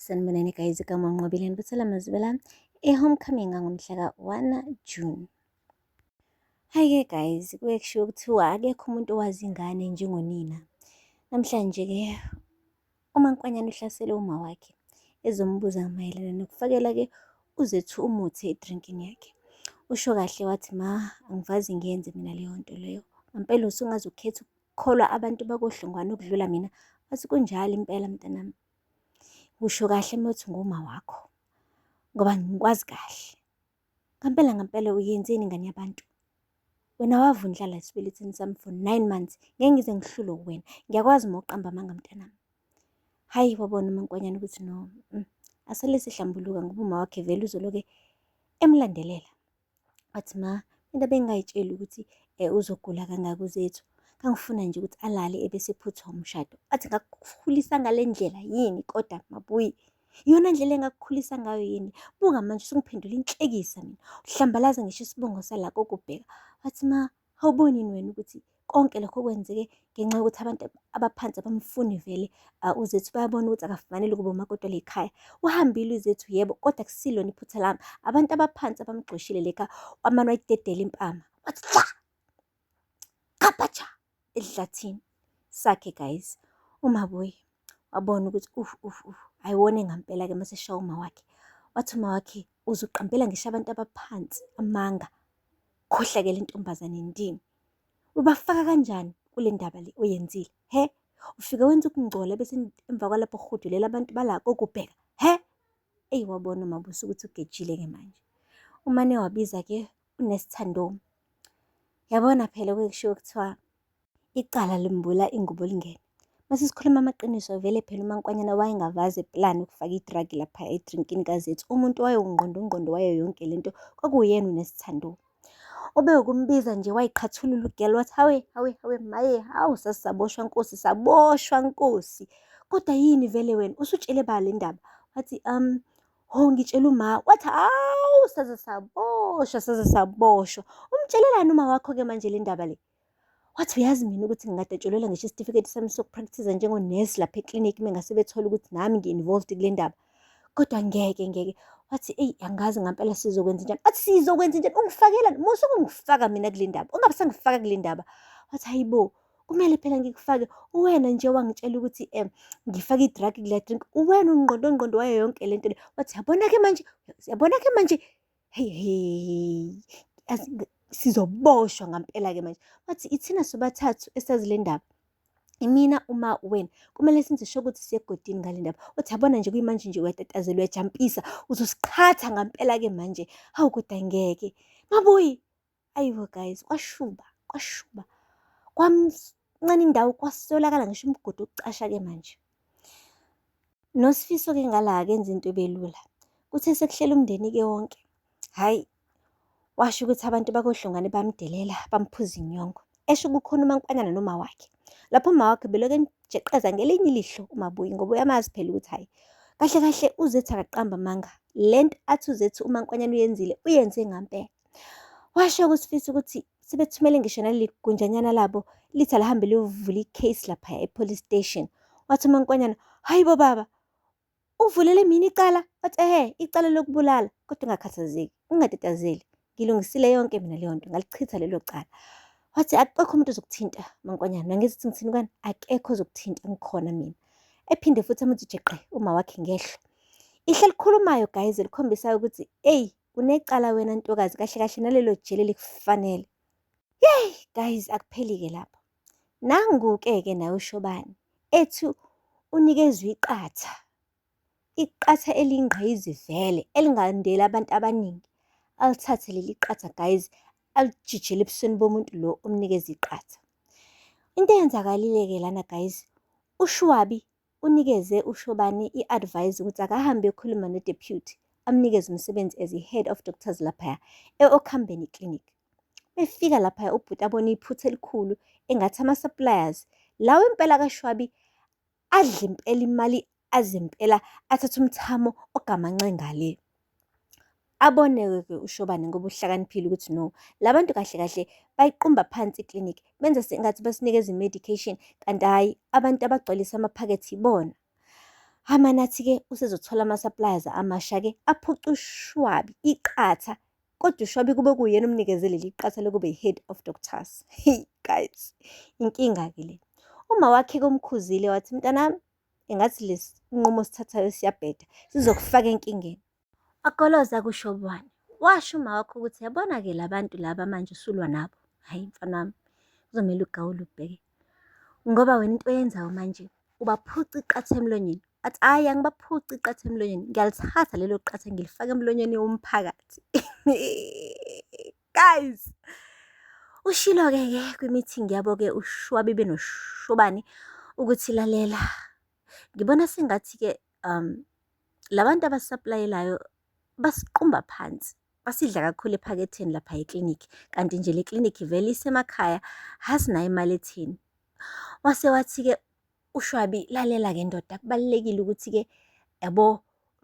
Sanibonani guys igama unqobile nibethela mazibela e-homecoming ngangomhla ka-1 June Hhayi-ke guys, kuye kushiwo kuthiwa akekho umuntu owazi ingane njengonina. Namhlanje-ke uMankwanyana uhlasele uma wakhe ezombuza mayelana nokufakela-ke uZethu umuthi edrinkini yakhe. Usho kahle wathi, Ma, angivazi ngiyenze mina leyo nto leyo. Ngampela usungaze ukhethe kholwa abantu bakoDlungwane ukudlula mina. Wathi, kunjalo impela mntanami. Usho kahle uma uthi nguma wakho, ngoba ngikwazi kahle. Ngampela ngampela uyenzeni ingane yabantu? Wena wavundlala esibelethini sami for nine months, ngeke ngize ngihlulwe uwena. Ngiyakwazi uma uqamba amanga mntanami. Hhayi, wabona umankonyane ukuthi no, mm, asale sihlambuluka ngoba uma wakhe vele uzoloke emlandelela. wathi ma into bengingayitsheli ukuthi um uzogula kangaka uZethu ngangifuna nje ukuthi alale ebese phuthwa umshado athi ngakukhulisa ngale ndlela yini kodwa mabuyi iyona ndlela engakukhulisa ngayo yini buka manje usungiphendula inhlekisa mina uhlambalaza ngisho isibongo salako kubheka wathi ma Awuboni yini wena ukuthi konke lokho kwenzeke ngenxa yokuthi abantu abaphansi abamfuni vele ah, uzethu bayabona ukuthi akafanele ukuba umakoti le khaya uhambile uzethu yebo kodwa kusilona iphutha lami abantu abaphansi abamgxoshile le khaya wamane wayidedela impama wathi cha khapatsha ehlathini sakhe guys umabuyi wabona ukuthi uf uf uf ayiwona ngampela ke mase shawo uma wakhe wathi uma wakhe uzuqambela ngisho abantu abaphansi amanga Khohlakele intombazane ndini. Ubafaka kanjani kule ndaba le oyenzile? He? Ufike wenza ukungcola bese emva kwalapho uhudulela abantu balako ukubheka. He? Eyi wabona uMabusi ukuthi ugejile-ke manje. Umane wabiza-ke uNesithandoma. Yabona phela kuye kushiwo kuthiwa Icala limbula ingubo lingene. Mase sikhuluma amaqiniso vele phela umankwanyana wayengavazi plan ukufaka i-drug lapha edrinkini kazethu. Umuntu wayewungqondo ungqondo wayo yonke lento kwakuwuyena unesithando. Ube ukumbiza nje wayiqhathulula ugel wathi hawe hawe hawe maye hawu sasisaboshwa nkosi saboshwa nkosi. Kodwa yini vele wena usutshele ba le ndaba? Wathi um ho ngitshela uma wathi hawu saze saboshwa saze saboshwa. Umtshelelani uma wakho-ke manje le ndaba le? Wathi uyazi mina ukuthi ngingadatshulelwa ngisho isitifiketi sami sokupractice njengonesi lapha eklinikhi uma ngase bethole ukuthi nami ngi-involved kule ndaba. Kodwa ngeke ngeke. Wathi eyi angazi ngampela sizokwenza njani. Wathi sizokwenza njani ungifakela musa ukungifaka mina kule ndaba. Ungabe sangifaka kule ndaba. Wathi hayibo kumele phela ngikufake uwena nje wangitshela ukuthi um ngifake i-drug kula drink uwena ungqondo ngqondo wayo yonke le nto le wathi yabona-ke manje yabona-ke manje Hheyi hheyi yazi ngi- sizoboshwa ngampela-ke manje wathi ithina sobathathu esazi le ndaba imina uma wena kumele senze sho ukuthi siye egodini ngale ndaba uthi yabona nje kuyimanje nje uyatatazela uyajampisa uzosiqhatha ngampela-ke manje hawu kodwa ngeke mabuyi Ayibo guys, kwashuba, kwashuba. Kwamncane indawo kwasolakala ngisho umgodi ukucasha-ke manje. Nosifiso-ke ngala akenza into ebelula. Kuthe sekuhlela umndeni-ke wonke. Hhayi, washo ukuthi abantu bakohlongane bamdelela, bamphuza inyongo. Esho kukhona umankonyana noma wakhe. Lapho uma wakhe beloke emjeqeza ngelinye ilihlo umabuyi ngoba uyamazi phela ukuthi hhayi. Kahle kahle uzethi akaqamba amanga. Le nto athi uzethi umankonyana uyenzile, uyenze ngampela. Washo kuSifisa ukuthi sebethumele ngisho naleli gunjanyana labo lithi alihambe liyovula i-case laphaya e-police station. Wathi uMankonyana, hhayi bo baba, uvulele mina icala? Wathi ehe, icala lokubulala. Kodwa ungakhathazeki, ungatatazeli. Ngilungisile yonke mina leyo nto, ngalichitha lelo cala. Wathi akekho umuntu ozokuthinta Mankonyana, nangithi ukuthi ngithini kwani? Akekho ozokuthinta, ngikhona mina. Ephinde futhi amuthi jeqe uma wakhe ngehlo. Ihla elikhulumayo guys elikhombisa ukuthi eyi Unecala wena ntokazi kahle kahle nalelo jele likufanele. Yey guys akuphelike lapho. Nangu-ke ke naye uShobane ethi unikezwe iqatha. Iqatha elingqizi vele elingandeli abantu abaningi. Alithathe leli qatha guys alijijele ebusweni bomuntu lo omnikeza iqatha. Into eyenzakalile-ke lana guys uShwabi unikeze uShobane i-advise ukuthi akahambe eyokhuluma noDeputy amnikeze umsebenzi as i-head of doctors laphaya e-Okhambeni Clinic. Befika laphaya ubhuti abone iphutha elikhulu engathi ama-suppliers lawo impela kaShwabi adla impela imali azimpela athatha umthamo ogamanxe ngale. Aboneke-ke uShobane ngoba uhlakaniphile ukuthi no, la bantu kahle kahle bayiqumba phansi i-clinic, benza sengathi basinikeza i-medication kanti hhayi abantu abagcwalisa amaphakethe ibona. Amanathi-ke usezothola ama-suppliers amasha-ke aphuca ushwabi, iqatha. Kodwa ushwabi kube kuyena omnikeze leli qatha lokube yi-head of doctors. Hheyi guys, inkinga-ke le. Uma wakhe-ke umkhuzile wathi, mntanami engathi lesi nqumo osithathayo siyabheda, sizokufaka enkingeni. Agoloza kushobwane. Washo uma wakho ukuthi yabona ke labantu laba manje usulwa nabo. Hayi mfana wami. Kuzomela ugawule ubheke. Ngoba wena into oyenzayo manje ubaphuca iqatha emlonyeni. Athi hayi angibaphuca iqatha emlonyeni. Ngiyalithatha lelo qatha ngilifaka emlonyeni womphakathi. Guys. Ushilo ke ke kwi-meeting yabo ke ushwabibe noshobani ukuthi lalela. Ngibona sengathi ke um la bantu abasisaplayelayo basiqumba phansi basidla kakhulu ephaketheni lapha eklinikhi kanti nje le klinikhi vele isemakhaya hasinayo imali etheni wase wathi-ke ushwabi lalela-ke ndoda kubalulekile ukuthi-ke yabo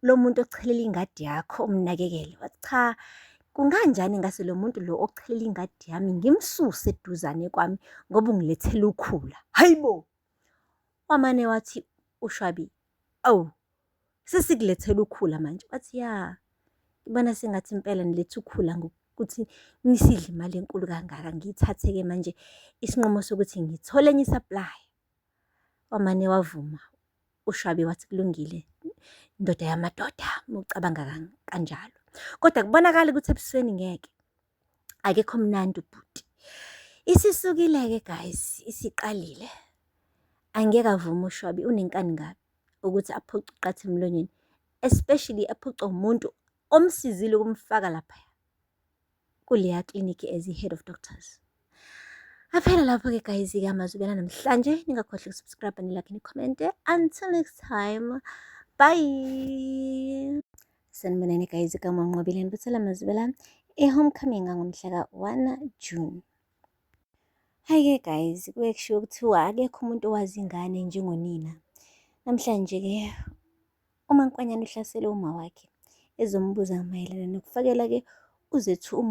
lo muntu ochelela ingadi yakho umnakekele wathi cha kunganjani ngase lo muntu lo ochelela ingadi yami ngimsuse eduzane kwami ngoba ungilethela ukhula hayi bo wamane wathi ushwabi awu sesikulethela ukhula manje wathi ya ngibona sengathi impela niletha ukhula ngokuthi nisidle imali enkulu kangaka ngiyithathe-ke manje isinqumo sokuthi ngithole enye isaplaya wamane wavuma ushwabi wathi kulungile indoda yamadoda mucabanga kanjalo kodwa kubonakala ukuthi ebusweni ngeke akekho mnandi ubhuti isisukile-ke guys isiqalile angeke avume ushwabi unenkani kabi ukuthi aphuce uqatha emlonyeni especially aphucwa umuntu omsizile ukumfaka lapha kuleya clinic as i-head of doctors aphela lapho-ke guys-ke amazwi bela namhlanje ningakhohlwa ukusubscribe nilakhe nikhomente until next time bye Sanibonani guys ka Mwanqobile Nibusela Mazibela e homecoming ngomhla ka 1 June. Hi ke guys, kuye kushiwo kuthiwa akekho umuntu owazi ingane njengonina. Namhlanje ke uMankwanyana uhlasele uma wakhe ezombuza mayelana nokufakela ke uzethu umuntu